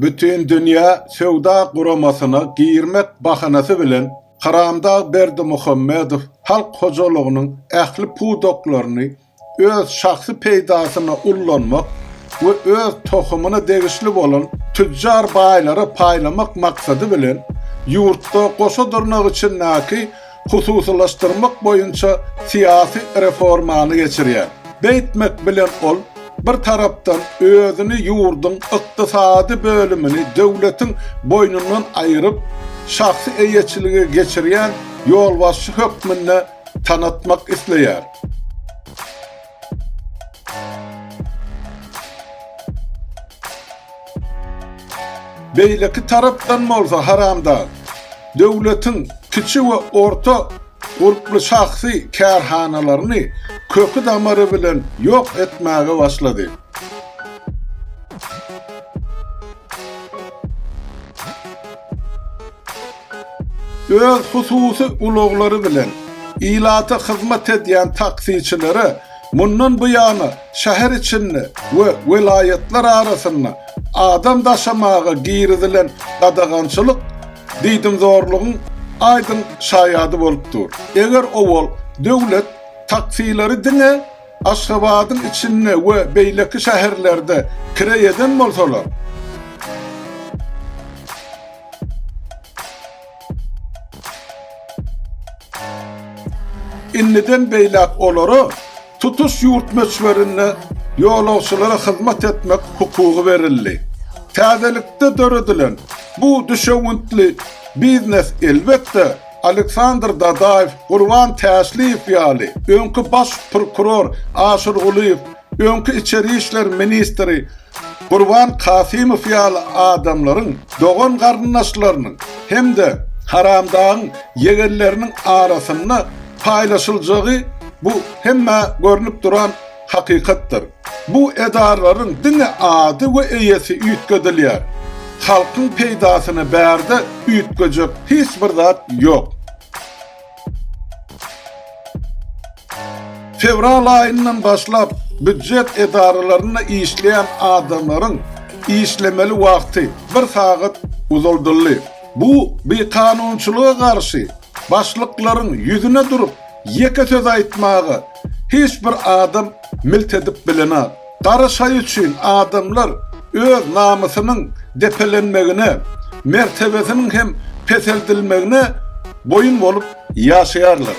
Bütindünýä Söwda Guramasyna girmek bahanasy bilen Karamdag Berdimuhamedow halk hojalygynyň ähli pudaklaryny öz şahsy peýdasyna ullanmak we öz tohumyna degişli bolan tüjjar baýlara paýlamak maksady bilen ýurtda goşa dyrnak içindäki hususylaşdyrmak boýunça syýasy reformany geçirýär. Beýtmek bilen ol, bir tarapdan, özüni ýurduň ykdysady bölümini döwletiň boýnundan aýryp, şahsy eýeçilige geçirýän ýolbaşçy hökmünde tanatmak isleýär. Beýleki tarapdan bolsa haramdag döwletiň kiçi we orta gurply şahsy kärhanalaryny köki-damary bilen ýok etmäge başlady. Öz hususy ulaglary bilen ilata hyzmat edýän taksiçilere mundan buýana şäher içinde we welaýatlar arasynda adam daşamaga girizilen gadagançylyk diýdimzorlugyň aýdyň şaýady bolup dur. Eger owal döwlet taksilary diňe Aşgabadyň içinde we beýleki şäherlerde kireý eden bolsalar, Indiden beýläk olara tutuş ýurt möçberinde ýolagçylara hyzmat etmek hukugy berildi. Täzelikde döredilen bu düşewüntli biznes elbetde Aleksandr Dadaýew, Gurban Täşliýew ýaly, öňki baş prokuror Aşyr Gulyýew, öňki içeri işler ministri Gurban Kasymow ýaly adamlaryň dogan-garyndaşlarynyň hem-de Haramdagyň ýegenleriniň arasynda paýlaşyljagy bu hemmä görnüp duran Hakykatdyr, bu edaralaryň diňe ady we eýesi üýtgedilýär. Halkyň peýdasyna bärde üýtgejek hiç bir zat ýok. Fewral aýyndan başlap býujet edaralarynda işleýän adamlaryň işlemeli wagty bir sagat uzaldyldy. Bu bikanunçylyga garşy, başlyklaryň ýüzüne durup, Ýeke söz aýtmaga hiç bir adam milt edip bilenok. Gara şaý üçin adamlar öz namysynyň depelenmegine, mertebesiniň hem peseldilmegine boýun bolup ýaşaýarlar.